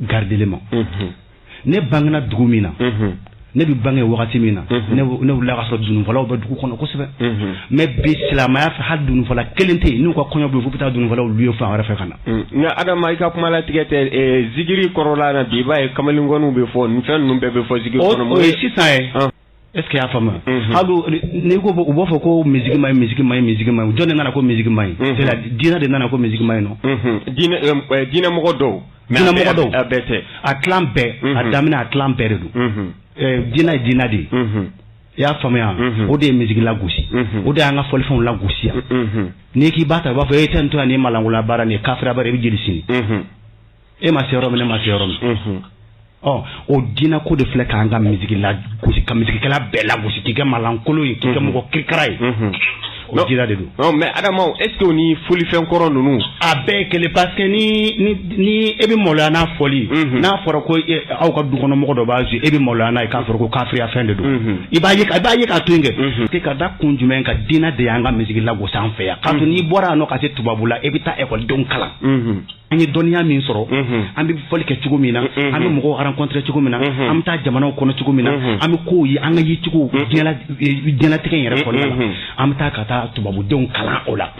garidelen ma ne bangena dugu min na ne bɛ bange wagati min na ne wulila k'a sɔrɔ dununfɔlaw bɛ dugu kɔnɔ kosɛbɛ mɛ bi silamɛya fɛ hali dununfɔla kelen tɛ yen n'u ka kɔɲɔ bɛ f'u bɛ taa dununfɔlaw luwe fan wɛrɛ fɛ ka na nka adama i ka kuma latigɛ tɛ zikiri kɔrɔla na bi i b'a ye kamalenkɔni bɛ fɔ nin fɛn ninnu bɛɛ bɛ fɔ zikiri kɔnɔ sisan ye Est ce que i y'a faamuya n'i ko u b'a fɔ ko misiki man ɲi misiki man ɲi misiki man ɲi jɔn de nana ko misiki man ɲi diinɛ de nana ko misiki man ɲi diinɛmɔgɔ dɔw dɔw a bɛɛ tɛ a bɛɛ a daminɛ a dila bɛɛ de don diinɛ ye diinɛ de ye i y'a faamuya o de ye misiki lagosi o de y'an ka fɔlifɛnw lagosi yan n'i k'i b'a ta u b'a fɔ e tɛ to ni malankolon baara nin ye kafiri baara i bɛ jeni sini e ma se yɔrɔ min ne ma se yɔrɔ min ɔ o diinɛ ko de filɛ k'an ka misiki lagosi ka misikikɛla bɛɛ lagosi k'i kɛ malankolon ye k'i kɛ mɔgɔ kirikara ye o diinɛ de don mɛ adama est ce que o ni fɔlifɛn kɔrɔ ninnu a bɛɛ kelen parce que ni ni ni e bɛ maloya n'a fɔli n'a fɔra ko aw ka dukɔnɔmɔgɔ dɔ b'a e bɛ maloya n'a ye k'a sɔrɔ ko kafiriya fɛn de don i b'a ye i b'a ye k'a to yen kɛ ka da kun jumɛn kan diinɛ de y'an ka misiki lagosi an fɛ yan k'a to n'i bɔra yan nɔ ka se tubabula e bɛ taa ekɔlidenw kalan an ye dɔnniya min sɔrɔ an bɛ fɔli kɛ cogo min na an bɛ mɔgɔw rencontrer cogo min na an bɛ taa jamanaw kɔnɔ cogo min na an bɛ kow ye an ka yecogo diɲɛlatigɛ yɛrɛ kɔnɔna la an bɛ taa ka taa tubabudenw kalan o la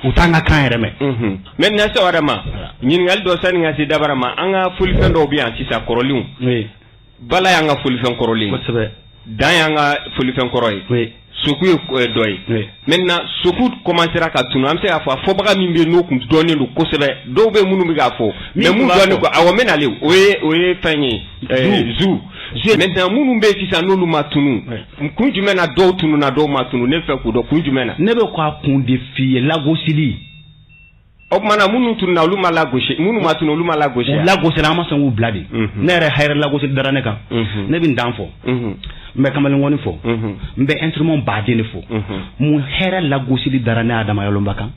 u t'an ka kan yɛrɛ mɛn sa adama ɲininkali dɔ sani n ka se dɔ wɛrɛ ma an ka fɔlifɛn dɔw bɛ yan sisan kɔrɔlenw bala y'an ka fɔlifɛn kɔrɔlen kosɛbɛ dan y'an ka fɔlifɛn kɔrɔ ye oui soku ye k- eh, dɔ ye oui maintenant soku commencera ka tunu an bɛ se k'a fɔ a fɔbaga min bɛ yen n'o tun dɔnnen don kosɛbɛ dɔw bɛ yen minnu bɛ k'a fɔ mais tun minnu b'a dɔnnen fɔ. ko awɔ n bɛ nalen o ye o ye fɛn ye eh, zu zu maintenant minnu bɛ yen sisan n'olu ma tunu Oui. kun jumɛn na dɔw tununa dɔw ma tunu ne bɛ fɛ k'o dɔn kun jumɛn na ne bɛ k'a kun de f'i ye lagosili O tuma na minnu tununa olu ma lagosi minnu ma tunu olu ma lagosi lagosira an ma sɔn k'u bila de ne yɛrɛ yɛrɛ lagosili dara ne kan ne bɛ n dan fɔ n bɛ kamalenkɔni fɔ n bɛ instrument baden de fɔ mun hɛrɛ lagosili dara ne adama yalomba kan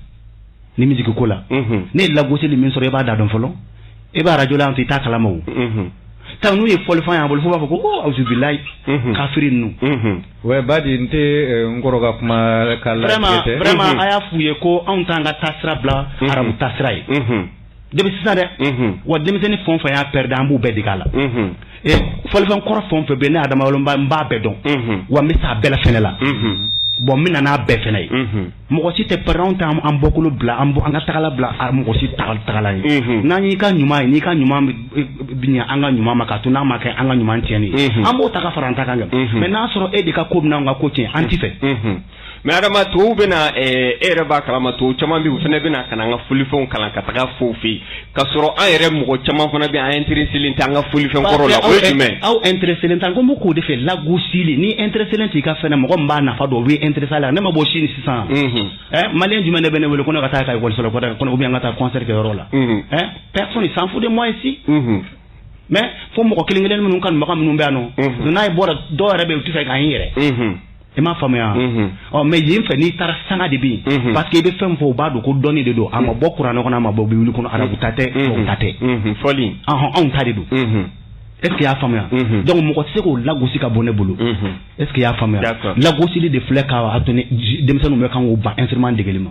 nin misiki ko la ne ye lagosili min sɔrɔ i b'a da dɔn fɔlɔ e b'a arajo la i t'a kalama tan n'u ye fɔlifɛn y'a bolo f'u b'a fɔ ko awuzubilayi kafiri ninnu Wai ba de n tɛ n kɔrɔ ka kuma ka a y'a f'u ye ko anw t'an ka taasira bila arabu taasira ye dɛ bi sisan dɛ wa denmisɛnnin fanba y'a pɛrɛdi an b'u bɛɛ dege la fɔlifɛn kɔrɔ fɛn o fɛn bɛ ne adama bolo n b'a bɛɛ dɔn wa n bɛ se a bɛɛ fana la bon n bɛna n'a bɛɛ fana ye mɔgɔ si tɛ pɛrɛn an t'an bɔkolo bila an an ka tagala bila a mɔgɔ si ta tagala ye n'an y'i ka ɲuman ye n'i ka ɲuman an ka ɲuman ma ka to n'a ma kɛ an ka ɲuman cɛn ye an b'o ta ka fara an ta kan kɛ mɛ n'a sɔrɔ e de ka ko bɛna an ka ko cɛn an t'i fɛ mɛ adama tɔw bɛ na e yɛrɛ b'a kalama tɔ caman bɛ u fana bɛ na ka na an ka fɔlifɛnw kalan ka taga a f'u fɛ yen ka sɔrɔ an yɛrɛ mɔgɔ caman fana bɛ intéressélen tɛ an ka fɔlifɛn kɔrɔ la aw intéressélen t'an ko ma k'o de fɛ lagosili n'i intéressélen t'i ka fɛn mɔgɔ b'a nafa dɔn u intéressé la ne ma bɔ sini sisan ɛ malien jumɛn de bɛ ne wele ko ne ka taa ka wasolo kɔnɔ u bɛ an ka taa concert yɔrɔ la ɛ s'en fout de mɔgɔ si mais fo mɔgɔ kelen kelen minnu ka mɔgɔ minnu bɛ yan nɔ n'a ye bɔra dɔw yɛrɛ bɛ u tɛ se k' yɛrɛ I m'a faamuya ɔ mais yen fɛ n'i taara sanga de bi parce que i bɛ fɛn fɔ u b'a dɔn ko dɔnni de don a ma bɔ kuranɛ kɔnɔ a ma bɔ bibulu kɔnɔ arabu ta tɛ ta tɛ fɔli anw ta de don est-ce que y'a faamuya donc mɔgɔ tɛ se k'o lagosi ka bɔ ne bolo est-ce que y'a faamuya lagosili de filɛ k' denmisɛnninw bɛ kan k'u ban instrument degeli ma